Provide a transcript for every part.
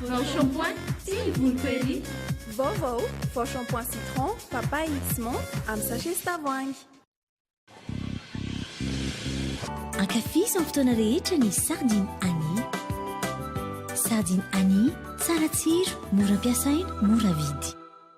Vao shampoing sy voloko ery. Vaovao, vao shampoing citron, papaye sy menthe amin'ny sachet sy tavoahangy. Ankafizo amin'ny fotoana rehetra ny Sardine Annie. Sardine Annie, tsara tsiro, mora ampiasaina, mora vidy.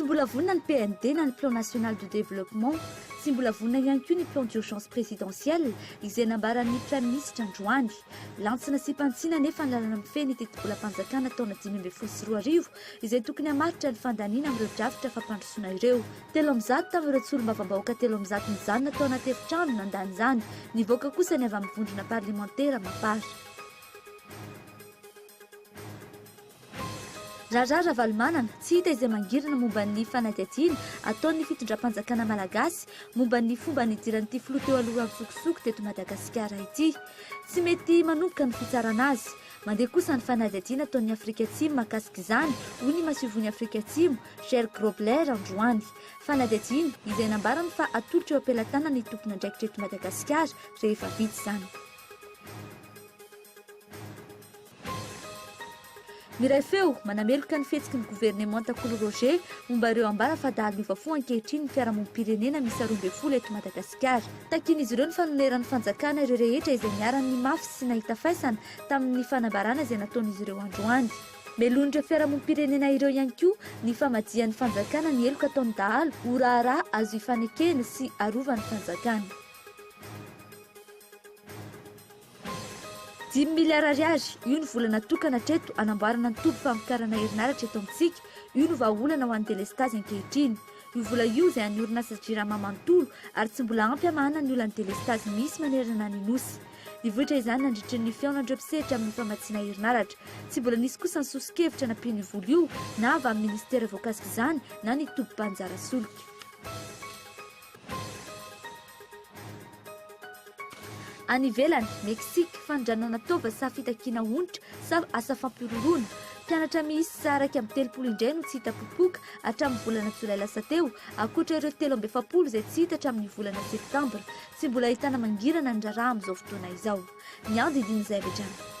Tsy mbola vonona ny PND na ny Plan National de Développement. Tsy mbola vonona ihany koa ny Plan d'Urgence Présidentiel izay nambaran'ny Praiminisitra androany. Lantsina sy mpantsina anefa ny lalana mifehy ny tetibolam-panjakana taona dimy ambin'ny folo sy roa arivo izay tokony hamaritra ny fandaniana amin'ireo drafitra fampandrosoana ireo. Telo amby zato tamin'ireo solombavambahoaka telo amby zato nijanona tao anaty efitrano no nandany izany. Nivoaka kosa ny avy amin'ny vondrona parlemantera Mapar. Raharaha Ravalomanana, tsy hita izay mangirana momba ny fanadihadiana ataon'ny fitondram-panjakana malagasy momba ny fomba nidiran'ity filoha teo aloha antsokosoko teto Madagasikara ity. Tsy mety manomboka ny fitsarana azy. Mandeha kosa ny fanadihadiana ataon'ny Afrika Atsimo mahakasika izany, hoy ny masoivohon'i Afrika Atsimo, Ger Grobler, androany. Fanadihadiana izay nambarany fa hatolotra eo am-pelatanan'ny tompon'andraikitra eto Madagasikara rehefa vita izany. Miray feo, manameloka ny fihetsiky ny governemanta Kolo Roger momba ireo ambara fa dahalo miova fo ankehitriny ny fiarahamonim-pirenena miisa roa ambin'ny folo eto Madagasikara. Takian'izy ireo ny fanoneran'ny fanjakana ireo rehetra izay niharan'ny mafy sy nahita faisana tamin'ny fanambarana izay nataon'izy ireo androany. Melohin'ireo fiarahamonim-pirenena ireo ihany koa ny famajian'ny fanjakana ny heloka ataon'ny dahalo ho raharaha azo ifanekena sy arovan'ny fanjakana. Dimy miliara ariary, io no vola natokana hatreto hanamboarana ny toby famokarana herinaratra eto amintsika, io no vahaolana ho an'ny delestazy ankehitriny. Io vola io izay an'ny orinasa Jirama manontolo ary tsy mbola ampy hamahana ny olan'ny delestazy misy manerana ny Nosy. Nivoitra izany nandritry ny fihaonan'ireo mpisehatra amin'ny famatsiana herinaratra. Tsy mbola nisy kosa ny soso-kevitra nampiany io vola io na avy amin'ny minisitera voakasika izany na ny tobim-panjara solika. Any ivelany, Mexique, fanondranana taova sa fitakiana onitra sa asa fampihorohoroana? Mpianatra miisa iraika amby telopolo indray no tsy hita popoka hatramin'ny volana jolay lasa teo, ankoatra ireo telo amby efapolo izay tsy hita hatramin'ny volana septambra. Tsy mbola ahitana mangirana ny raharaha amin'izao fotoana izao. Ny andidian'izay avy hatrany.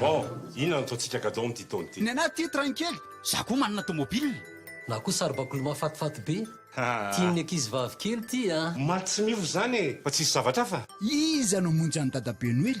Bon, inona no ataontsika gadon amin'ity taona ity? Ny anah tia train kely, za koa manana tomobile. Na koa saribakoly mahafatifaty be. Tian'ny ankizivavy kely ity a. Omaly tsy miova izany e, fa tsisy zavatra hafa? Iza no hamonjy an'i dadabe noely?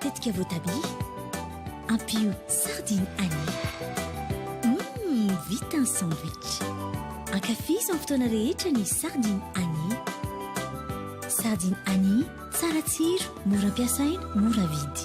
Tetika voatabia, ampio sardine anis. Hum, vita ny sandwich. Ankafizo amin'ny fotoana rehetra ny sardine anis. Sardine anis, tsara tsiro, mora ampiasaina, mora vidy.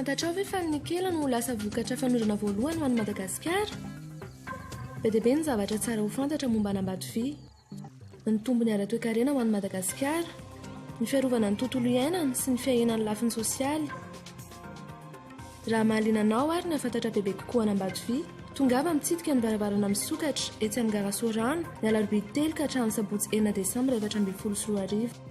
Fantatrao ve fa ny nikela no ho lasa vokatra fanondrona voalohany ho an'i Madagasikara? Be dia be ny zavatra tsara ho fantatra momba an'Ambatovia. Ny tombony ara-toekarena ho an'i Madagasikara, ny fiarovana ny tontolo iainana sy ny fiahiana ny lafiny sosialy. Raha mahaliana anao àry ny hahafantatra bebe kokoa an'Ambatovia, tongava mitsidika ny varavarana misokatra etsy amin'ny gara Soarano, ny alarobia telo ka hatramin'ny sabotsy enina desambra efatra ambin'ny folo sy roa arivo.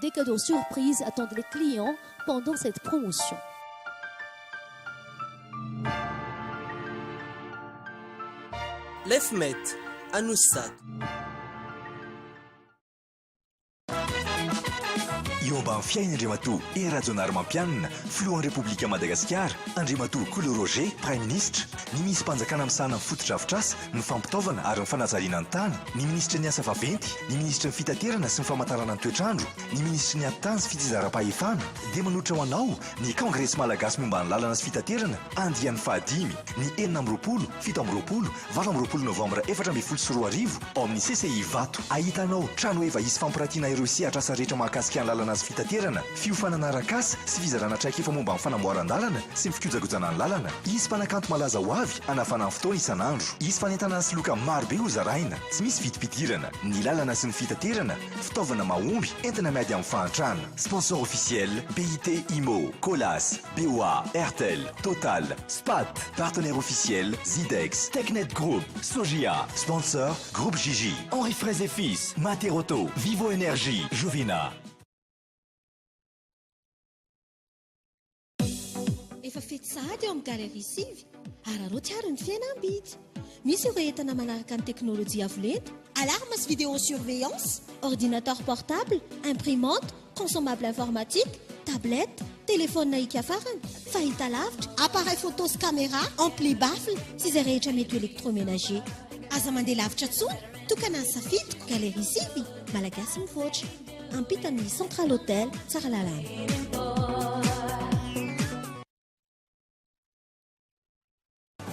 Des cadeaux surprises attendent les clients pendant cette promotion. Lefmet, Anosy Zato. Eo ambany fiain' Andriamatoa Hery Rajaonarimampianina, Filohan'ny Repoblikan'i Madagasikara, Andriamatoa Kolo Roger, Praiminisitra, ny Minissim-panjakana misahana ny fotodrafitrasa ny fampitaovana ary ny fanajariana ny tany, ny minisitry ny Asa vaventy, ny minisitry ny Fitaterana sy ny famantarana ny toetr'andro, ny minisitry ny Atitany sy Fitsinjaram-pahefana, dia manolotra ho anao ny Kongresy Malagasy Momba ny Lalana sy Fitaterana, andiany fahadimy, ny enina amby roapolo, fito amby roapolo, valo amby roapolo Novambra efatra ambin'ny folo sy roa arivo, ao amin'ny CCI Ivato. Ahitanao tranoheva hisy fampirantiana ireo sehatr'asa rehetra mahakasika ny lalana sy fitaterana. Fiofanana arak'asa sy fizarana traikefa momba ny fanamboaran-dalana sy ny fikojakojana ny lalana. Hisy mpanakanto malaza ho avy hanafana ny fotoana isan'andro. Hisy fanentanana sy loka marobe hozaraina. Tsy misy vidim-pidirana. Ny lalana sy ny fitaterana, fitaovana mahomby, entana miady amin'ny fahantrana. Sponsor officiel, BIT Imo, Colas, BOA, Airtel, Total, Spat. Partenaire officiel, Zidex, Technet Group, Sojia. Sponsor, Groupe JJ, Henri Fraise et Fils, Mater Auto, Vivo Energy, Jovina. Efa fety sahady eo amin'ny Galerie sivy. Araraoty àry ny fihenam-bidy. Misy ireo entana manaraka ny teknolojia avo lenta, alarme sy vidéosurveillance, ordinateur portable, imprimante, consommable informatique, tablette, telefaonina hiakafarana, fahitalavitra, appareil photo sy camera, ampli baffle sy izay rehetra mety ho électroménager. Aza mandeha lavitra intsony, tokana ny safidiko, Galerie sivy, Malagasy mivoatra. Ampitan'ny Central Hotel Tsaralalana.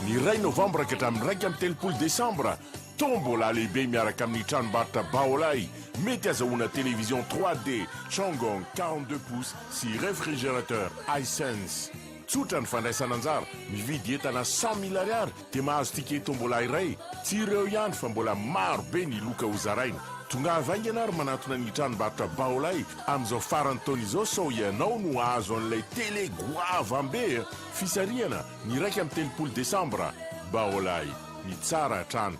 Ny iray novambra ka hatramin'ny iraika amby telopolo desambra, tombola lehibe miaraka amin'ny tranombarotra Baolai, mety azahoana télévision 3D Changong quarante-deux pouces sy réfrigérateur Hisense. Tsotra ny fandraisana anjara, mividy entana cent mille ariary dia mahazo ticket tombola iray, tsy ireo ihany fa mbola maro be ny loka ho zaraina. Tongava haingana ary manantona ny tranombarotra Baolay amin'izao faran'ny taona izao sao ianao no hahazo an'ilay tele goavam-be a! Fisarihana ny iraika amby telopolo desambra. Baolay, ny tsara hatrany.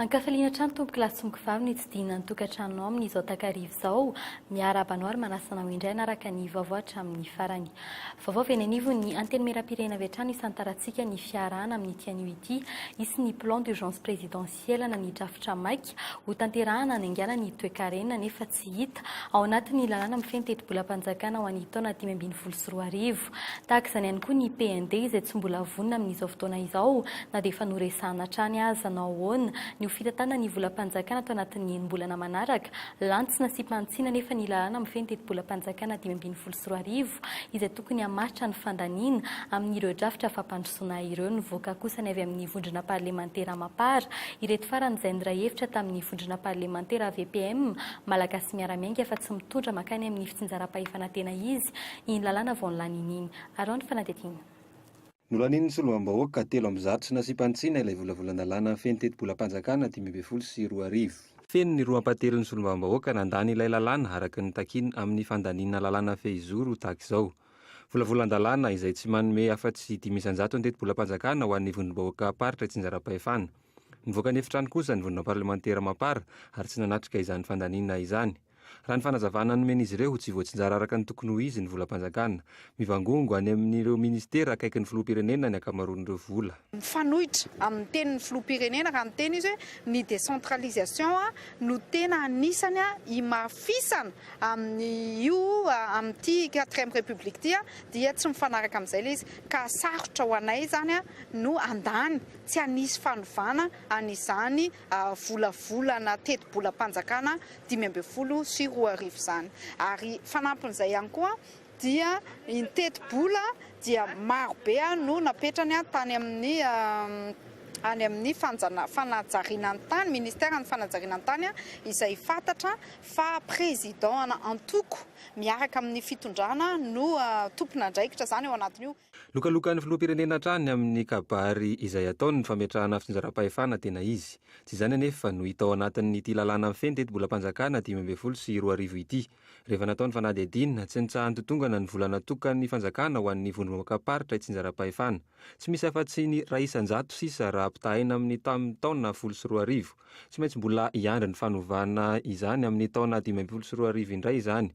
Ankafaliana hatrany tompoko lahy sy mokovavy ny tsidihina ny tokantranonao amin'izao takariva izao. Miarahaba anao ary manasana ho indray hanaraka ny vaovao hatramin'ny farany. Vaovao avy eny anivon'ny antenimieram-pirenena avy hatrany hisantarantsika ny fiarahana amin'ity anio ity. Hisy ny plan d'urgence présidentiel. Hielana ny drafitra maika hotanterahana hanaingaina ny toekarena nefa tsy hita ao anatin'ny lalàna mifehy ny tetibolam-panjakana ho an'ny taona dimy ambin'ny folo sy roa arivo. Tahaka izany ihany koa ny PND izay tsy mbola vonona amin'izao fotoana izao na dia efa noresahana hatrany aza. Nanao ahoana ny ho fitantanana ny volam-panjakana ato anatin'ny enim-bolana manaraka Lantsy nasiam-panitsiana anefa ny lalàna mifehy ny tetibolam-panjakana dimy ambin'ny folo sy roa arivo, izay tokony hamaritra ny fandaniana amin'ireo drafitra fampandrosoana ireo. Nivoaka kosa ny avy amin'ny vondrona parlemantera Mapar, ireto farany izay niray hevitra tamin'ny vondrona parlemantera VPM, Malagasy Miara-Miainga, fa tsy mitondra mankany amin'ny fitsinjaram-pahefana tena izy iny lalàna vao nilany iny. Araho ny fanadihadiana. Nolanian'ny solombavambahoaka telo amby zato sy nasiam-panitsiana ilay volavolan-dalàna amin'ny fen'ny tetibolam-panjakana dimy ambin'ny folo sy roa arivo. Feno ny roa ampahatelon'ny solombavambahoaka nandany ilay lalàna araka ny takiany amin'ny fandaniana lalàna fehizoro tahaka izao. Volavolan-dalàna izay tsy manome afa-tsy dimy isan-jato ny tetibolam-panjakana ho an'ny vondrom-bahoakam-paritra itsinjaram-pahefana. Nivoaka ny efitrano kosa ny vondrona parlemantera mapar ary tsy nanatrika izany fandaniana izany. Raha ny fanazavana nomen'izy ireo, tsy voatsinjara araka ny tokony ho izy ny volam-panjakana. Mivangongo any amin'ireo minisitera akaikin'ny filoham-pirenena ny ankamaroan'ireo vola. Mifanohitra amin'ny tenin'ny filoham-pirenena raha miteny izy hoe ny décentralisation no tena anisany himafisana amin'io, amin'ity quatrième république ity dia tsy mifanaraka amin'izay ilay izy ka sarotra ho anay izany no handany tsy hanisy fanovana an'izany volavolana tetibolam-panjakana dimy ambin'ny folo sy roa arivo izany. Ary fanampin'izay ihany koa dia ny tetibola dia maro be no napetrany tany amin'ny any amin'ny fanajariana ny tany, ministère ny fanajariana ny tany, izay fantatra fa président ana antoko miaraka amin'ny fitondrana no tompon'andraikitra izany ao anatin'io. Lokalokan'ny filoham-pirenena hatrany ny amin'ny kabary izay ataony ny fametrahana fitsinjaram-pahefana tena izy. Tsy izany anefa no hita ao anatin'ity lalàna mifehy ny tetibolam-panjakana dimy ambin'ny folo sy roa arivo ity. Rehefa natao ny fanadihadiana, tsy nitsaha-nitotongana ny vola natokan'ny fanjakana ho an'ny vondrom-bahoakam-paritra itsinjaram-pahefana. Tsy misy afa-tsy ny iray isan-jato sisa raha ampitahaina amin'ny tamin'ny taona folo sy roa arivo. Tsy maintsy mbola hiandry ny fanovana izany amin'ny taona dimy ambin'ny folo sy roa arivo indray izany.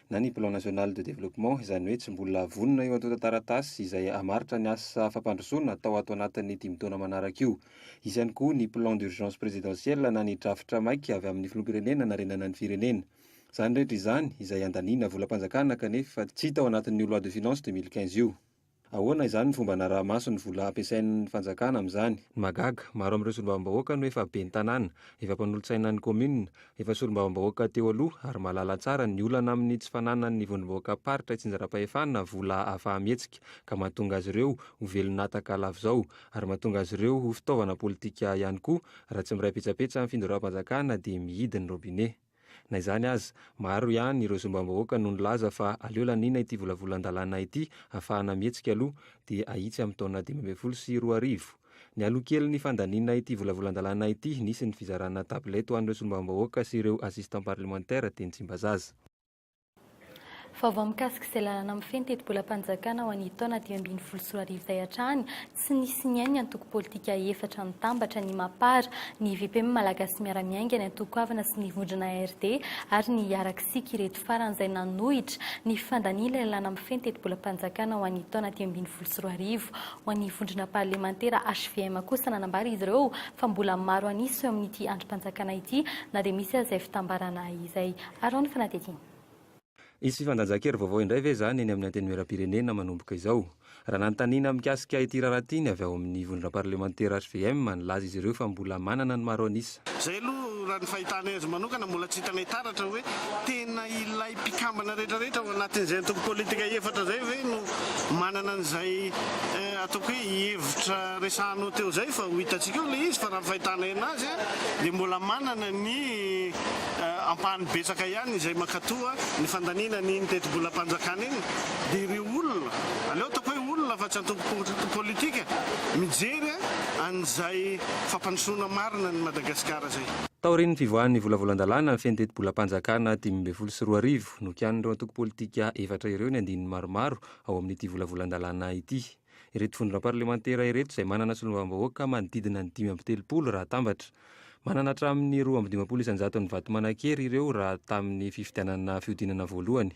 na ny Plan National de Développement, izany hoe tsy mbola vonona eo antontan-taratasy izay hamaritra ny asa fampandrosoana atao ato anatin'ny dimy taona manaraka io. Hisy ihany koa ny Plan d'Urgence Présidentiel na ny drafitra maika avy amin'ny Filoham-pirenena hanarenana ny firenena. Izany rehetra izany, izay handaniana volam-panjakana kanefa tsy hita ao anatin'io Loi de Finances deux mille quinze io. Ahoana izany ny fomba hanaraha-maso ny vola ampiasain'ny fanjakana amin'izany? Ny mahagaga, maro amin'ireo solombavambahoaka no efa ben'ny tanàna, efa mpanolotsaina ny kaominina, efa solombavambahoaka teo aloha ary mahalala tsara ny olana amin'ny tsy fananan'ny vondrombahoakam-paritra itsinjaram-pahefana vola ahafaha-mihetsika ka mahatonga azy ireo ho velon'ataka lav'izao ary mahatonga azy ireo ho fitaovana politika ihany koa raha tsy miray petsapetsa ny findoram-panjakana dia mihidy ny robinet. Na izany aza, maro ihany ireo zombam-bahoaka no nilaza fa aleo laniana ity volavolan-dalàna ity hahafahana mihetsika aloha dia ahitsy amin'ny taona dimy ambin'ny folo sy roa arivo. Nialoha kely ny fandaniana ity volavolan-dalàna ity, nisy ny fizarana tablette ho an'ireo solombavambahoaka sy ireo assistant parlementaire teny Tsimbazaza. Vaovao mikasika izay lalana mifehy ny tetibolam-panjakana ho an'ny taona dimy ambin'ny folo sy roa arivo izay hatrany tsy nisy nihaino ny antoko politika efatra mitambatra, ny Mapar, ny VPM Malagasy Miara-Miainga, ny Antoko Avana sy ny Vondrona ARD ary ny Hiaraksika ireto farany izay nanohitra ny fifandaniany ilay lalana mifehy ny tetibolam-panjakana ho an'ny taona dimy ambin'ny folo sy roa arivo. Ho an'ny Vondrona Parlemantera hvm kosa nanambara izy ireo fa mbola maro an'isa eo amin'ity andrim-panjakana ity na dia misy aza izay fitambarana izay. Ary hoy ny fanadihadiana. Hisy fifandanjan-kery vaovao indray ve izany eny amin'ny Antenimierampirenena manomboka izao? Raha nanontaniana mikasika ity raharaha ity ny avy ao amin'ny vondrona parlemantera hvm, nilaza izy ireo fa mbola manana ny maro an'isa. Izay aloha raha ny fahitanay azy manokana, mbola tsy hitanay taratra hoe tena ilay mpikambana rehetrarehetra ao anatin'izay antoko politika efatra izay ve no manana an'izay ataoko hoe hevitra resahanao teo izay fa ho hitantsika eo ilay izy fa raha ny fahitanay anazy dia mbola manana ny ampahany betsaka ihany izay mankatò ny fandaniana an'iny tetibolam-panjakana iny, dia ireo olona, aleo ataoko hoe olona fa tsy antoko politika, mijery an'izay fampandrosoana marina an'i Madagasikara izay. Taorian'ny fivoahan'ny volavolan-dalàna mifehy ny tetibolam-panjakana dimy ambin'ny folo sy roa arivo, nokianin'ireo antoko politika efatra ireo ny andininy maromaro ao amin'ity volavolan-dalàna ity. ireto vondrona parlemantera ireto izay manana solombavambahoaka manodidina ny dimy amby telopolo raha atambatra. Manana hatramin'ny roa amby dimampolo isan-jaton'ny vato manan-kery ireo raha tamin'ny fifidianana fihodinana voalohany.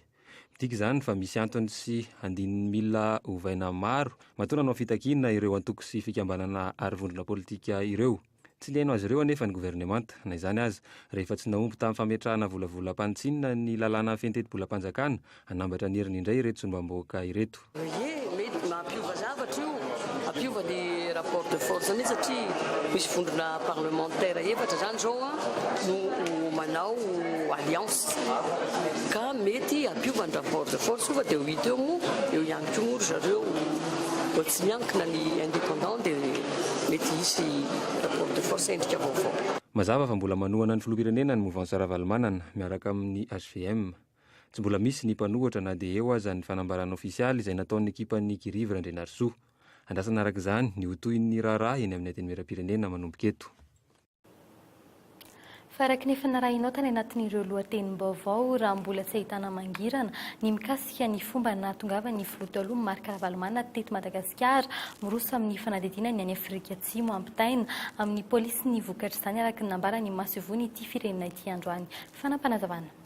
Midika izany fa misy antony sy andininy mila ovaina maro matoa nanao fitakiana ireo antoko sy fikambanana ary vondrona politika ireo. Tsy liana azy ireo anefa ny governemanta. Na izany aza, rehefa tsy nahomby tamin'ny fametrahana volavolam-panitsiana ny lalàna fihentetim-bolam-panjakana, hanambatra ny heriny indray ireto solombambahoaka ireto. Ie, mety mampiova zavatra io, hampiova ny rapport de force mihitsy satria misy vondrona parlementaires efatra izany izao no manao alliance ka mety hampiova ny rapport de force io fa dia ho hita eo moa eo ihany koa moa ry zareo vao tsy miankina ny independant dia mety hisy rapport de force endrika vaovao. Mazava fa mbola manohana ny filoham-pirenena ny Mouvance Ravalomanana miaraka amin'ny hvm. Tsy mbola misy ny mpanohitra na dia eo aza ny fanambarana ofisialy izay nataon'ny ekipan'i Kirivo Randrianarisoa. Andrasana araka izany ny ho tohin'ny raharaha eny amin'ny Antenimierampirenena manomboka eto. Faraky ny efa narahinao tany anatin'ireo lohatenim-baovao, raha mbola tsy ahitana mangirana ny mikasika ny fomba nahatongavan'ny filoha taloha Marc Ravalomanana teto Madagasikara, miroso amin'ny fanadihadiana ny any Afrika Atsimo hampitaina amin'ny polisy ny vokatr'izany, araka ny nambaran'ny masoivohon'ity firenena ity androany. Fanapanazavana.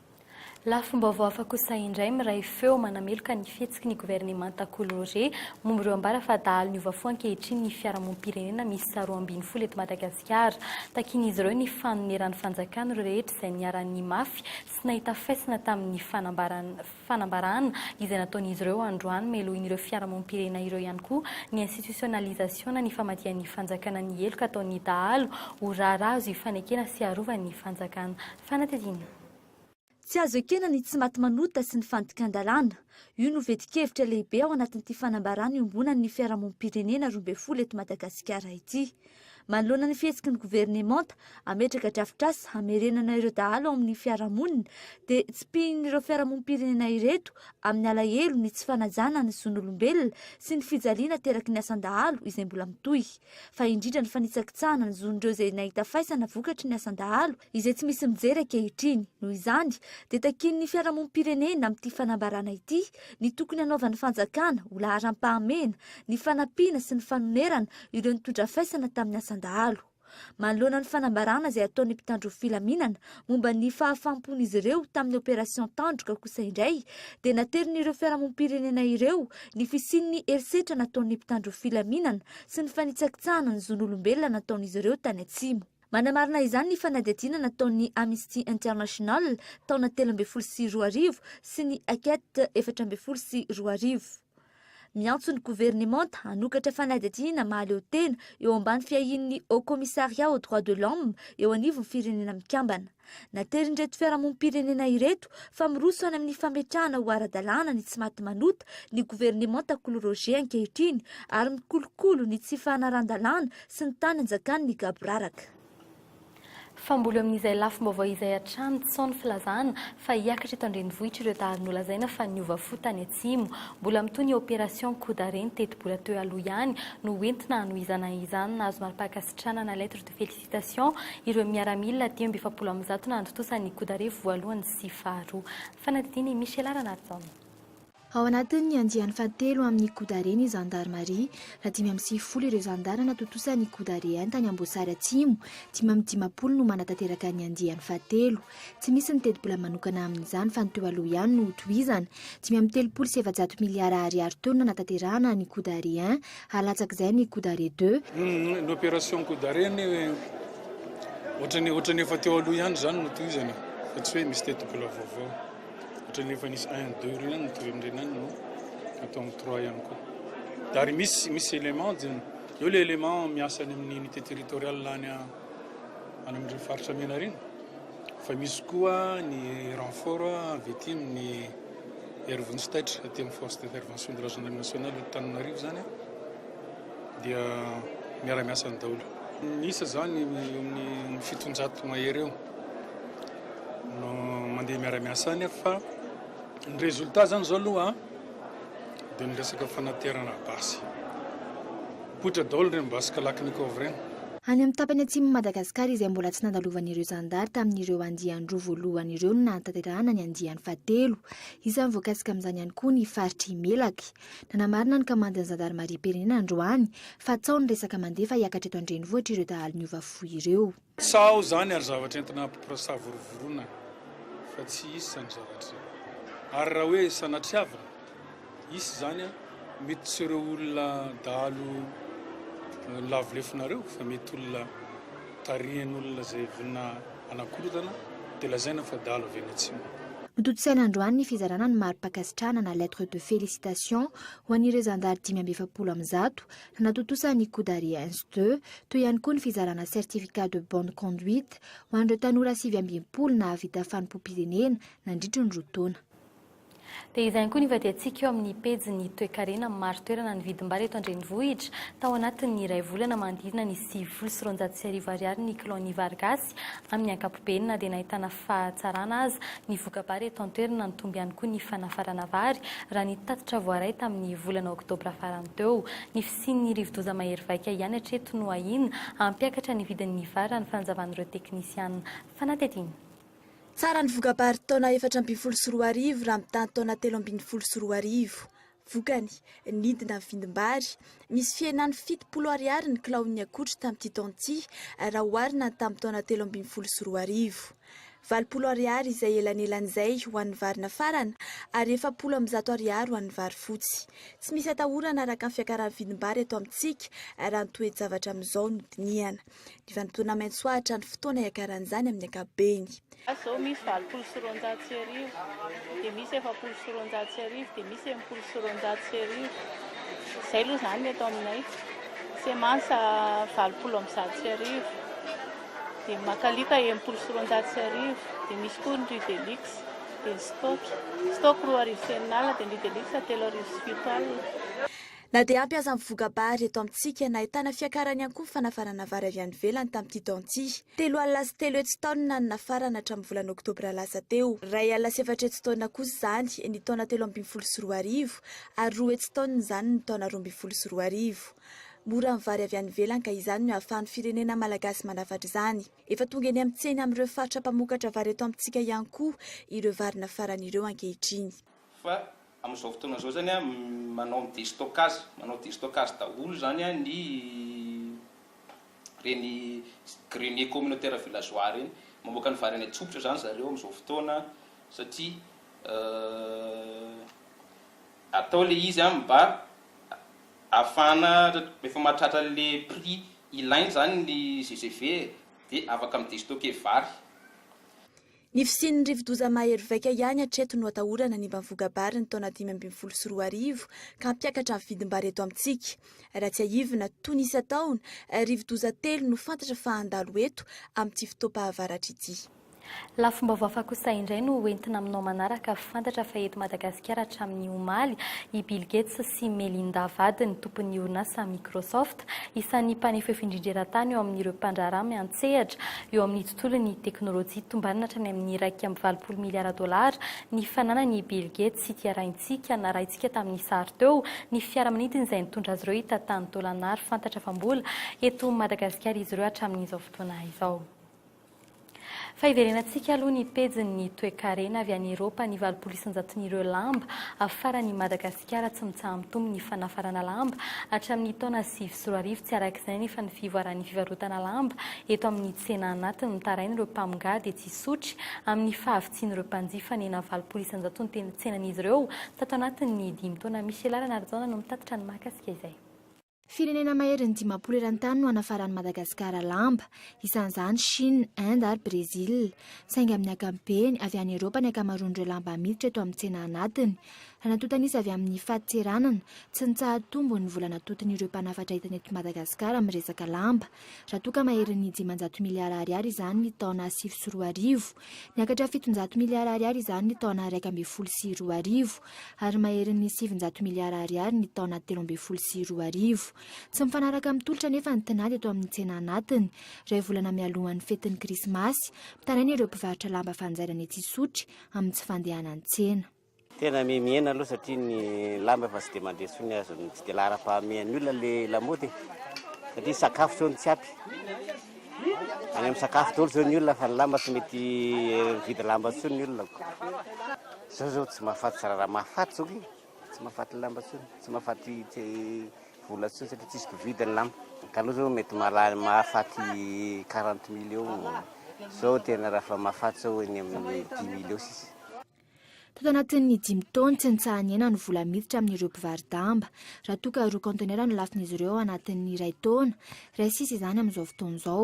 Lafim-baovao hafa kosa indray miray feo manameloka ny fihetsiky ny governemanta Collore momba ireo ambara fa dahalo niova fo ankehitriny ny fiarahamonim-pirenena miisa roa ambin'ny folo eto Madagasikara. Takian'izy ireo ny fanoneran'ny fanjakana ireo rehetra izay niharan'ny mafy sy nahita faisana tamin'ny fanambarana izay nataon'izy ireo androany. Melohin'ireo fiarahamonim-pirenena ireo ihany koa ny institutionalisation-na ny famadihan'ny fanjakana ny heloka ataon'ny dahalo ho raharaha azo ifanekena sy arovany ny fanjakana. Fanadihadiana. Tsy azo ekena ny tsy maty manota sy ny fandikan-dalàna. Io no fetin-kevitra lehibe ao anatin'ity fanambarana iombonan'ny fiarahamonim-pirenena roa ambin'ny folo eto Madagasikara ity. Manoloana ny fihetsiky ny governemanta hametraka drafitrasa hamerenana ireo dahalo ao amin'ny fiarahamonina dia tsipihin'ireo fiarahamonim-pirenena ireto amin'ny alahelo ny tsy fanajana ny zon'olombelona sy ny fijaliana ateraky ny asan-dahalo izay mbola mitohy fa indrindra ny fanitsakitsahana ny zon'ireo izay nahita faisana vokatry ny asan-dahalo izay tsy misy mijery ankehitriny. Noho izany dia takian'ny fiarahamonim-pirenena amin'ity fanambarana ity ny tokony hanaovan'ny fanjakana ho laharam-pahamehana ny fanampiana sy ny fanonerana ireo nitondra faisana tamin'ny asan-dahalo. Manoloana ny fanambarana izay ataon'ny mpitandro filaminana momba ny fahafaham-pon'izy ireo tamin'ny opération Tandroka kosa indray dia naterin'ireo fiarahamonim-pirenena ireo ny fisian'ny herisetra nataon'ny mpitandro filaminana sy ny fanitsakitsahana ny zon'olombelona nataon'izy ireo tany Atsimo Manamarina izany ny fanadihadiana nataon'ny Amisty International taona telo ambin'ny folo sy roa arivo sy ny Aket efatra ambin'ny folo sy roa arivo. Miantso ny governemanta hanokatra fanadihadiana mahaleo tena eo ambany fiahian'ny Haut Commissariat aux Droits de l'Homme eo anivon'ny Firenena Mikambana. Naterin'ireto fiarahamonim-pirenena ireto fa miroso any amin'ny fametrahana ho ara-dalàna ny tsy maty manota ny governemanta Kolo Roger ankehitriny ary mikolokolo ny tsy fanarahan-dalàna sy ny tany anjakan'ny gaboraraka. Fa mbola eo amin'izay lafim-baovao izay hatrany tsy sao ny filazana fa hiakatra eto an-drenivohitra ireo dahalo nolazaina fa niova fo tany atsimo. Mbola mitohy ny opération coup d'arrêt ny tetibola teo aloha ihany no ho entina hanohizana izany. Nahazo mari-pankasitranana lettre de félicitations. Citation, Ireo miaramila dimy amby efapolo amin'ny zato nahantontosa ny Godarivo voalohany sy faharoa. Fanadihadiana i Michela Ranarison. Ao anatin'ny andiany fahatelo amin'ny Godare ny zandarimaria raha dimy amby sivifolo ireo zandary natontosa ny Godare Ain tany Amboasary Atsimo, dimy amby dimampolo no manatanteraka ny andiany fahatelo. Tsy misy ny tetibola manokana amin'izany fa ny teo aloha ihany no hotohizana. Dimy amby telopolo sy efajato miliara ariary teo no nanatanterahana ny Kodare I, halatsak'izay ny Kodare ii. Ny opération Kodare anie ohatran'ny ohatran'ny efa teo aloha ihany izany no tohizana fa tsy hoe misy tetibola vaovao. Ohatran'ny efa nisy un, deux ireny ihany no tohizana ireny ihany no atao amin'ny trois ihany koa. Ary misy misy élément dia eo ilay élément miasa any amin'ny unité territoriale any any amin'ireo faritra Menarina fa misy koa ny renfort avy ety amin'ny Airvens Taitra aty amin'ny force d'intervention de la gendarmerie nationale eto Tananarivo zany dia miara-miasa ny daholo. Ny isa zany amin'ny fitonjato mahery eo no mandeha miara-miasa any fa ny résultat zany zao aloha dia ny resaka fanaterana basy. Mipoitra daholo ireny basy Kalachnikov ireny. Any amin'ny tapany atsimon'i Madagasikara izay mbola tsy nandalovan'ireo zandary tamin'ireo andian-droa voalohany ireo no nahatanterahana ny andiany fahatelo. Isan'ny voakasika amin'izany ihany koa ny faritr'i Melaky. Nanamarina ny kamandin'ny zandarimariam-pirenena androany fa tsaho ny resaka mandeha fa hiakatra eto an-drenivohitra ireo dahalo niova fo ireo. Sao zany ary zavatra entina ampiporasavorovoroana fa tsy hisy zany zavatra zany. Ary raha hoe sanatriavina hisy zany an, mety tsy ireo olona dahalo lavo lefonareo fa mety olona tarihin'olona izay vonona hanakorontana dia lazaina fa dahalo avy any atsimo. Notontosaina androany ny fizarana ny mari-pankasitrahana na lettre de félicitation ho an'ireo zandary dimy amby efapolo amin'ny zato Natontosa ny Coudariens de, toy ihany koa ny fizarana certificat de bonne conduite ho an'ireo tanora sivy amby enimpolo nahavita fanompoam-pirenena nandritry ny roa taona. Dia izay ihany koa ny vadiantsika eo amin'ny pejin'ny toekarena amin'ny marin-toerana ny vidim-bary eto an-drenivohitra. Tao anatin'ny iray volana manodidina ny sivifolo sy roanjato sy arivo Ariary ny kilao ny vary gasy Malagasy amin'ny ankapobeny na dia nahitana fahatsarana aza ny voka-bary eto an-toerana. Nitombo ihany koa ny fanafarana vary raha ny tatitra voaray tamin'ny volana oktobra farany teo. Ny fisian'ny rivodoza mahery vaika ihany hatreto no ahiana hampiakatra ny vidin'ny vary raha ny fanazavan'ireo teknisiana fanadihadiana. Faran'ny voka-bary taona efatra ambin'ny folo sy roa arivo raha mitaha ny taona telo ambin'ny folo sy roa arivo. Vokany, nidina vindim-bary misy fihenany fitopolo ariary ny kilaon'ny akotry tamin'ity taona ity raha oharina ny tamin'ny taona telo ambin'ny folo sy roa arivo. Valopolo ariary izay elanelan'izay ho an'ny vary nafarana ary efapolo amby zato ariary ho an'ny vary fotsy. Tsy misy atahorana araka ny fiakaran'ny vidim-bary eto amintsika raha ny toe-javatra amin'izao no dinihana. Ny vanim-potoana maitso ahitra ny fotoana iakaran'izany amin'ny ankapobeny. Izao misy valopolo sy roanjato sy arivo, dia misy efapolo sy roanjato sy arivo, dia misy enimpolo sy roanjato sy arivo. Izay aloha izany ny eto aminay. Semansa valopolo amby zato sy arivo, dia Makalika enimpolo sy roanjato sy arivo, dia misy koa ny Ridelix, dia ny Stock. Stock roa arivo sy enin'alina, dia ny Ridelix telo arivo sy fito alina. Na dia ampy aza ny voka-bary eto amintsika, nahitana fiakarany ihany koa ny fanafarana vary avy any ivelany tamin'ity taona ity. Telo alina sy telo hetsy taonina no nafarana hatramin'ny volana oktobra lasa teo. Iray alina sy efatra hetsy taonina kosa izany ny taona telo ambin'ny folo sy roa arivo ary roa hetsy taonina izany ny taona roa ambin'ny folo sy roa arivo. Mora ny vary avy any ivelany ka izany no hahafahan'ny firenena malagasy manafatra izany. Efa tonga eny amin'ny tsena amin'ireo faritra mpamokatra vary eto amintsika ihany koa ireo vary nafarany ireo ankehitriny. Fa amin'izao fotoana izao izany manao ny destocage, manao destocage daholo izany ny ireny grenier communautaire villageois ireny. Mamoaka ny vary any an-tsofotra izany zareo amin'izao fotoana satria atao ilay izy mba ahafahana, rehefa mahatratra an'ilay prix ilaina izany ny GGV dia afaka mi-destocker vary. Ny fisian'ny rivodoza mahery vaika ihany hatreto no atahorana ny mba voka-bary ny taona dimy ambin'ny folo sy roa arivo ka hampiakatra ny vidim-bary eto amintsika. Raha tsiahivina, toy ny isan-taona, rivodoza telo no fantatra fa handalo eto amin'ity fotoam-pahavaratra ity. Lafim-baovao hafa kosa indray no ho entina aminao manaraka. Fantatra fa eto Madagasikara hatramin'ny omaly i Bill Gates sy Melinda vadiny, tompon'ny orinasa Microsoft, isan'ny mpanefoefo indrindra eran-tany eo amin'ireo mpandraharaha miantsehatra eo amin'ny Tolony ny teknolojia, tombanina hatrany amin'ny iraika amby valopolo miliara dolara ny fananan'i Bill Gates sy ity arahintsika, narahintsika tamin'ny sary teo, ny fiaramanidiny izay nitondra azy ireo hita tany Dolanara, fantatra fa mbola eto Madagasikara izy ireo hatramin'izao fotoana izao. Fa hiverenantsika aloha ny pejin'ny toekarena avy any Eropa, ny valopolo isan-jaton'ireo lamba afaran'i Madagasikara. Kara tsy mitsaha-mitombo ny fanafarana lamba. Hatramin'ny taona sivy sy roa arivo tsy araka izay anefa ny fivoaran'ny fivarotana lamba eto amin'ny tsena anatiny. Ny tarain'ireo mpamongà dia tsy hisotry amin'ny fahavitsian'ireo mpanjifa nena valopolo isan-jato ny teny tsenan'izy ireo tato anatin'ny dimy taona. Michela Ranarijaona no mitatitra ny mahakasika izay. Firenena maherin'ny dimampolo eran-tany no hanafaran'i Madagasikara lamba, isan'izany Chine, Inde ary Brésil. Saingy amin'ny ankapobeny, avy any Eropa ny ankamaroan'ireo lamba miditra eto amin'ny tsena anatiny. Raha natontana izy avy amin'ny fadin-tseranana, tsy nitsahatombony ny vola natotin'ireo mpanafatra entana eto Madagasikara amin'ny resaka lamba, Raha toa ka maherin'ny dimanjato miliara ariary izany ny taona sivy sy roa arivo, niakatra fitonjato miliara ariary izany ny taona iraika ambin'ny folo sy roa arivo, ary maherin'ny sivinjato miliara ariary ny taona telo ambin'ny folo sy roa arivo. Tsy mifanaraka amin'ny tolotra anefa ny tinady eto amin'ny tsena anatiny. Iray volana mialohan'ny fetin'ny Krismasy, mitaraina ireo mpivarotra lamba fanjairana etsy Isotry amin'ny tsy fandehanany tsena. Tena mihena aloha satria ny lamba efa tsy dia mandeha intsony azon'ny tsy dia laharam-pahamehan'ny olona ilay lamaody e. Satria sakafo izao no tsy ampy. Any amin'ny sakafo daholo izao ny olona fa ny lamba tsy mety mividy lamba intsony ny olona. Izao izao tsy mahafaty zara raha mahafaty izao e. Tsy mahafaty lamba intsony, tsy mahafaty vola intsony satria tsisy mpividy ny lamba. Ny taloha izao mety mahalany mahafaty quarante mille eo, izao tena raha efa mahafaty izao eny amin'ny dix mille eo sisa. Tato anatin'ny dimy taona, tsy nitsaha-ny aina ny vola miditra amin'ireo mpivaro-damba, raha toa ka roa kaontenera no lafiny izy ireo ao anatin'ny iray taona, iray sy sisa izany amin'izao fotoana izao.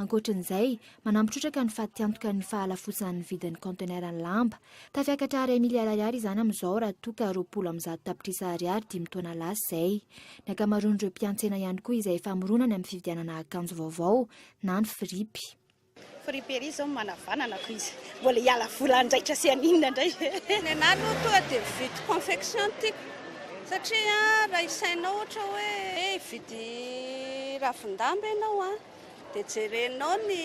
Ankoatrin'izay, manampy trotraka ny fatiantoka ny fahalafotsan'ny vidin'ny kaonteneran'ny lamba. Tafiakatra iray miliara ariary izany amin'izao raha toa ka roapolo amby zato tapitrisa ariary dimy taona lasa izay. Ny ankamaroan'ireo mpiantsena ihany koa izay famoronany amin'ny fividianana akanjo vaovao na ny firipy. Friperie zao manavanana ko izy mbola hiala vola ndray kasihany inona ndray e. Ny anah aloha tonga dia mividy confection no tiako satria raha isainao ohatra hoe hividy ravin-damba ianao an dia jerenao ny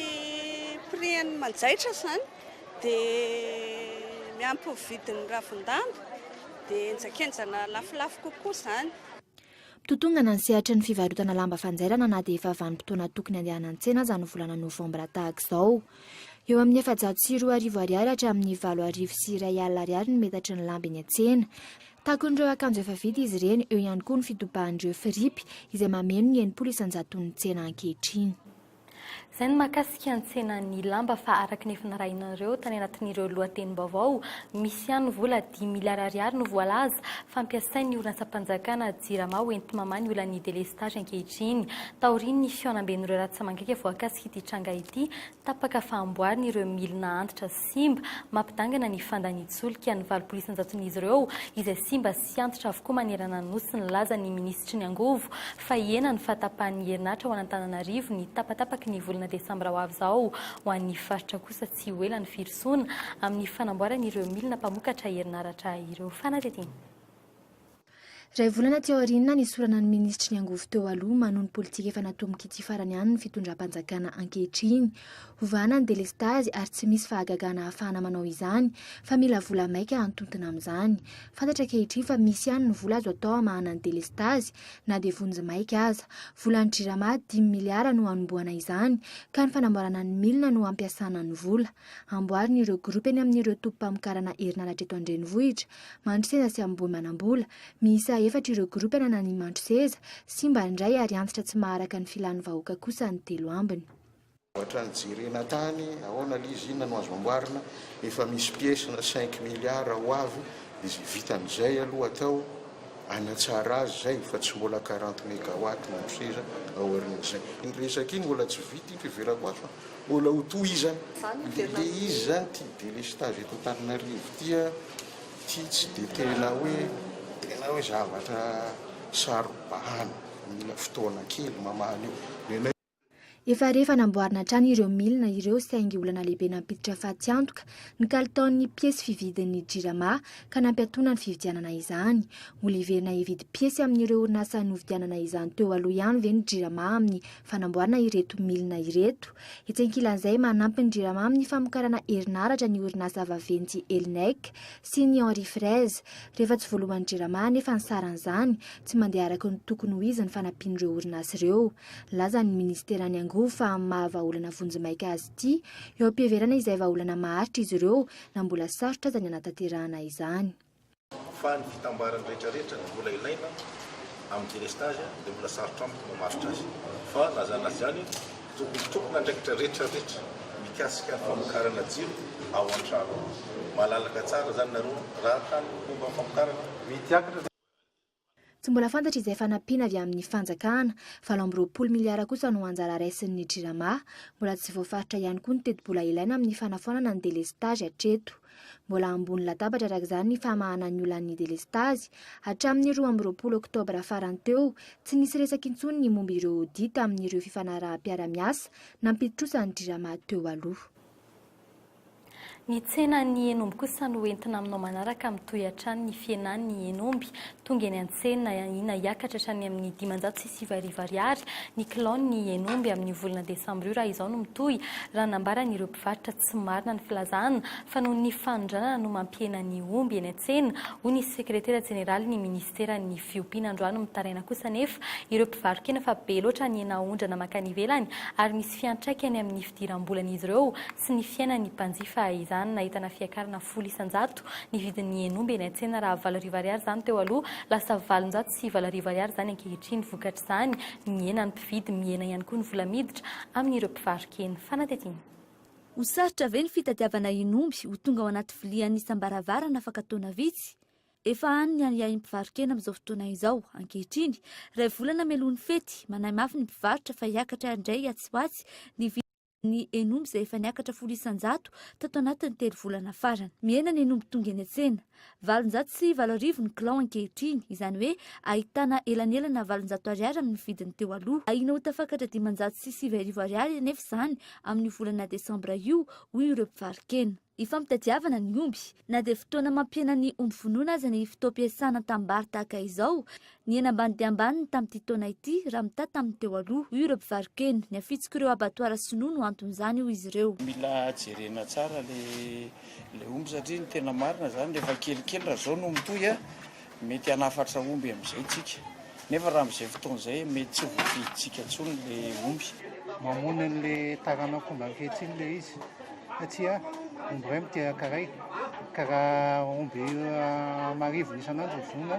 prix an'ny manjaitra izany dia miampy ny vidin'ny ravin-damba dia enjakenjana lafolafo kokoa izany. Mitotongana ny sehatry ny fivarotana lamba fanjairana na dia efa vanim-potoana tokony handehana an-tsena aza ny volana novambra tahaka izao. Eo amin'ny efajato sy roa arivo ariary hatramin'ny valo arivo sy iray alina ariary ny metatry ny lamba eny an-tsena. Takon'ireo akanjo efa vita izy ireny, eo ihany koa ny fitobahan'ireo firipy izay mameno ny enimpolo isan-jaton'ny tsena ankehitriny. Izay ny mahakasika ny tsenan'ny lamba fa araka ny efa narahinareo tany anatin'ireo lohatenim-baovao, misy ihany vola dimy miliara ariary no voalaza fa ampiasain'ny horonantsampanjakana Jirama ho enti-mamaha ny olan'ny delestazy ankehitriny. Taorian'ny fihaonamben'ireo ratsamangaika voakasik'ity tranga ity, tapaka fa amboarina ireo milina antitra sy. simba, mampidangana ny fandanin-tsolika ny valopolo isan-jaton'izy ireo izay simba sy antitra avokoa manerana ny Nosy nilaza ny minisitry ny angovo fa hihena ny fahatapahan'ny herinaratra ao an'Antananarivo ny tapatapaky ny volana desambra ho avy izao ho an'ny faritra kosa tsy ho ela ny firosoana amin'ny fanamboarana ireo milina mpamokatra herinaratra ireo fanadihadiana Iray volana aty aoriana nisorana ny minisitry ny angovo teo aloha manohy ny politika efa natomboka ity farany any ny fitondram-panjakana ankehitriny. Hovahana ny delestazy ary tsy misy fahagagana ahafahana manao izany fa mila vola maika hantontona amin'izany. Fantatra ankehitriny fa misy ihany ny vola azo atao hamahana ny delestazy na dia vonjy maika aza. Volan'ny Jirama dimy miliara no hanombohana izany ka ny fanamboarana ny milina no hampiasana ny vola. Amboarina ireo gropy eny amin'ireo tobim-pamokarana herinaratra eto an-drenivohitra. Mandro seza sy ambohimanambola. Miisa efatra ireo gropy ananan'ny ny mandro seza, simba ny iray ary antitra tsy maharaka ny filan'ny vahoaka kosa ny telo ambiny. Ohatran'ny jerena tany ahoana ilay izy, inona no azo amboarina, efa misy pièce na cinq milliards ho avy, dia izay vitan'izay aloha atao, hanatsara azy izay fa tsy mbola quarante megawatts mandro seza aorian'izay. Iny resaka iny mbola tsy vita iny, fiheverako azy fa. Mbola ho tohizana le le izy zany ty delestage eto Antananarivo ty a, ty tsy de tena hoe tena hoe zavatra saro-bahana, mila fotoana kely mamaha an'io, nenay. Efa re efa namboarina hatrany ireo milina ireo saingy olana lehibe nampiditra fatiantoka ny kalitaon'ny piesy fividin'ny Jirama ka nampiatoana ny fividianana izany. Mbola hiverina hividy piesy amin'ireo orinasa novidianana izany teo aloha ihany ve ny Jirama amin'ny fanamboarana ireto milina ireto. Etsy ankilan'izay, manampy ny Jirama amin'ny famokarana herinaratra ny orinasa vaventy Elnec sy ny Henri Fraise. Rehefa tsy voalohan'ny Jirama anefa ny saran'izany, tsy mandeha araka ny tokony ho izy ny fanampian'ireo orinasa ireo. Lazan'ny minisiteran'ny angovo fa amin'ny maha vahaolana vonjimaika azy ity, eo am-piheverana izay vahaolana maharitra izy ireo na mbola sarotra aza ny hanatanterahana izany. Fa ny fitambarany rehetrarehetra no mbola ilaina amin'ny délestage dia mbola sarotra amiko ny mamaritra azy. Fa na izany na izany, tokony tompon'andraikitra rehetrarehetra mikasika ny famokarana jiro ao an-trano. Malalaka tsara izany nareo raha hany homba ny famokarana. Mihidy hiakatra izany. Tsy mbola fantatra izay fanampiana avy amin'ny fanjakana. Valo amby roapolo miliara kosa no anjara raisin'ny Jirama. Mbola tsy voafaritra ihany koa ny tetibola ilaina amin'ny fanafoanana ny delestazy hatreto. Mbola ambony latabatra araka izany ny famahana ny olan'ny delestazy. Hatramin'ny roa amby roapolo oktobra farany teo, tsy nisy resaka intsony ny momba ireo audit amin'ireo fifanaraham-piarahamiasa nampidi-trosa ny Jirama teo aloha. Ny tsenan'ny henomby kosa no entina aminao manaraka mitohy hatrany ny fihenan'ny henomby. Tonga eny an-tsena ina hiakatra hatrany amin'ny dimanjato sy sivy arivo ariary ny kilaon'ny henomby amin'io volana desambra io raha izao no mitohy raha nambaran'ireo mpivarotra tsy marina ny filazana fa noho ny fanondranana no mampihena ny omby eny an-tsena hoy ny sekretera jeneralin'ny minisiteran'ny fiompiana androany mitaraina kosa anefa ireo mpivarokena fa be loatra ny henaondrana mankany ivelany ary misy misy fiantraikany amin'ny fidiram-bolan'izy ireo sy ny fiainan'ny mpanjifa izany. Nahitana fiakarana folo isan-jato ny vidin'ny henomby eny an-tsena raha valo arivo ariary izany teo aloha, lasa valonjato sy valo arivo ariary izany ankehitriny. Vokatr'izany, mihena ny mpividy, mihena ihany koa ny vola miditra amin'ireo mpivarokena. Fanadihadiana. Ho sarotra ve ny fitadiavana henomby ho tonga ao anaty vilia an'isam-baravarana afaka taona vitsy? Efa hany ny ahiahin'ny mpivaro-kena amin'izao fotoana izao. Ankehitriny, iray volana mialoha ny fety, manahy mafy ny mpivarotra fa hiakatra indray atsy ho atsy ny vidin'ny hen'omby izay efa niakatra folo isan-jato tato anatin'ny telo volana farany. Mihena ny hen'omby tonga eny an-tsena. Valonjato sy valo arivo ny kilao ankehitriny, izany hoe ahitana elanelana valonjato ariary amin'ny vidiny teo aloha. Ahiana ho tafakatra dimanjato sy sivy arivo ariary anefa izany amin'io volana desambra io, hoy ireo mpivaro-kena. Ifampitadiavana ny omby. Na dia fotoana mampihena ny omby vonoina aza ny fotoam-piasana an-tanimbary tahaka izao, nihena ambany dia ambany ny tamin'ity taona ity raha mitaha tamin'ny teo aloha, hoy ireo mpivaro-kena. Ny hafitsik'ireo abatoara sinoa no anton'izany, hoy izy ireo. Mila jerena tsara ilay omby satria ny tena marina izany rehefa kelikely raha izao no mitohy. Mety hanafatra omby amin'izay tsika, nefa raha amin'izay fotoana izay mety tsy voafidintsika intsony ilay omby. Mamono an'ilay taranak'omby ankehitriny ilay izy, satria omby iray miteraka iray, ka raha omby amarivony isan'andro no vonoina,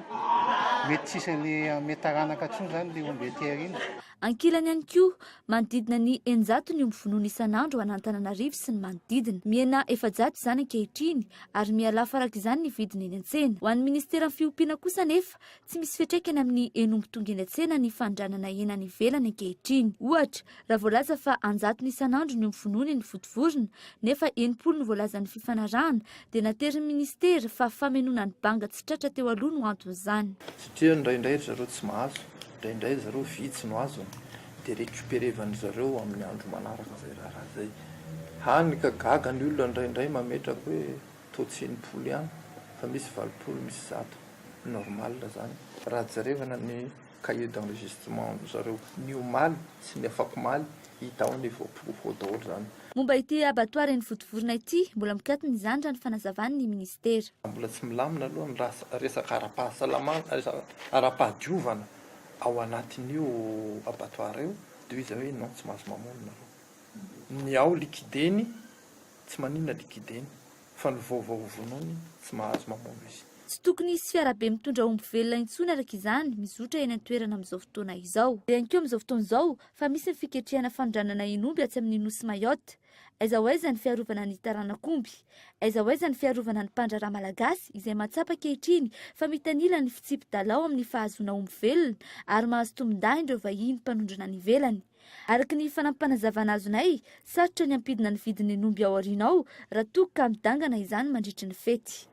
mety tsy hisy an'ilay hanome taranaka intsony izany ilay omby aty aoriana. Ankilany ihany koa, manodidina ny eninjato ny omby vonoina isan'andro an'Antananarivo sy ny manodidina. Mihena efajato izany ankehitriny ary miha lafo araka izany ny vidiny eny an-tsena. Ho an'ny minisiteran'ny fiompiana kosa anefa, tsy misy fiantraikany amin'ny hen'omby tonga eny an-tsena ny fanondranana hena any ivelany ankehitriny. Ohatra, raha voalaza fa anjatony isan'andro ny omby vonoina eny Vontovorona, nefa enimpolo no voalazan'ny fifanarahana, dia naterin'ny minisitera fa famenoana ny banga tsy tratra teo aloha no anton'izany. Tsy teo indraindray ry zareo tsy mahazo. Indraindray zareo vitsy no azony de recuperevan'ny zareo amin'ny andro manaraka zay raharaha zay. Hany ka gaga ny olona indraindray mametraka hoe toa tsy enimpolo ihany fa misy valopolo misy zato. Normal zany raha jerevana ny cahier d'enregistrement zareo ny omaly sy ny afakomaly hita ao ny voaporofo ao daholo zany. Momba ity abattoir eny Votovorona ity, mbola mikatona izany raha ny fanazavan' ny minisitera. Mbola tsy milamina aloha ny resaka ara-pahasalamana, resaka ara-pahadiovana ao anatin'io abattoir io dia hoy izy hoe non tsy mahazo mamono nareo. Ny ao liquide-ny tsy maninona liquide-ny fa ny vaovao hovonoiny tsy mahazo mamono izy. Tsy tokony hisy fiarabe mitondra omby velona intsony araka izany mizotra eny an-toerana amin'izao fotoana izao. Dia ihany koa amin'izao fotoana izao, fa misy ny fiketrehana fanondranana eny omby atsy amin'ny nosy Mayotte, aiza ho aiza ny fiarovana ny taranak'omby? aiza ho aiza ny fiarovana ny mpandraharaha malagasy izay mahatsapa ankehitriny fa mitanila ny fitsipi-dala ao amin'ny fahazoana omby velona ary mahazo tombon-dahiny ireo vahiny mpanondrana any ivelany? Araka ny fanampim-panazavana azonay, sarotra ny hampidina ny vidin'ny omby ao aoriana ao raha toa ka midangana izany mandritry ny fety.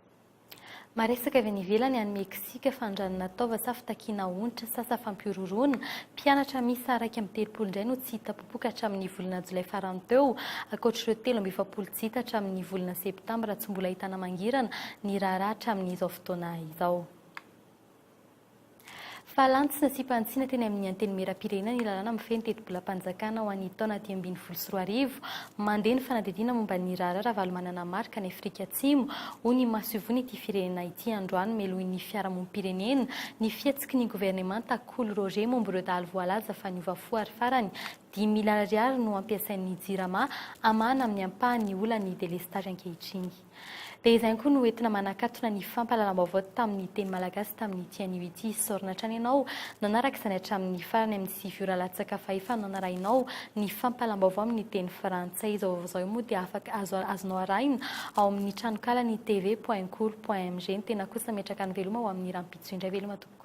Maresaka avy any ivelany any Meksika fa andranona taova sa fitakiana onitra sa sa fampihorohoroana? Mpianatra miisa iraika amby telopolo indray no tsy hita popoka hatramin'ny volana jolay farany teo, ankoatr'ireo telo amby efapolo tsy hita hatramin'ny volana septambra tsy mbola ahitana mangirana ny raharaha hatramin'izao fotoana izao. Fa lanto sy nasiam-panitsiana teny amin'ny Antenimierampirenena ny lalàna mifehy ny tetibolam-panjakana ho an'ny taona dimy ambin'ny folo sy roa arivo. Mandeha ny fanadihadiana momba ny raharaha Ravalomanana Marc any Afrika Atsimo, hoy ny masoivohon'ity firenena ity androany melohin'ny fiarahamonim-pirenena ny fihetsiky ny governemanta Kolo Roger momba ireo dahalo voalaza fa niova fo ary farany dimy miliara ariary no ampiasain'ny Jirama hamahana amin'ny ampahany ny olan'ny delestazy ankehitriny. Dia izay ihany koa no entina manakatona ny fampahalalam-baovao tamin'ny teny malagasy tamin'ity anio ity. Isaorana hatrany ianao nanaraka izany hatramin'ny farany amin'ny sivy ora latsaka fa efa nanarahinao ny fampahalalam-baovao amin'ny teny frantsay. Izao vaovao izao moa dia afaka azo azonao arahina ao amin'ny tranonkalany tv point kolo point mg. Ny tena kosa metraka ny veloma ho amin'ny rahampitso indray veloma tompoko.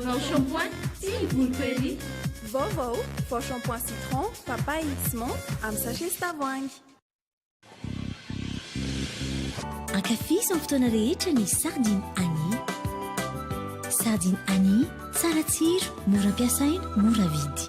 Vao shampoing sy ny volo prairie. Vaovao, vao shampoing citron, papaye sy menthe amin'ny sachet sy tavoahangy. Ankafizo amin'ny fotoana rehetra ny Sardine Annie. Sardine Annie, tsara tsiro, mora ampiasaina, mora vidy.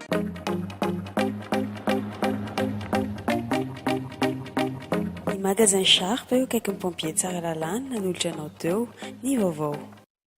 Ny magasin Sharp eo akaikin'ny pompier Tsaralalana nanolotra anao teo ny vaovao.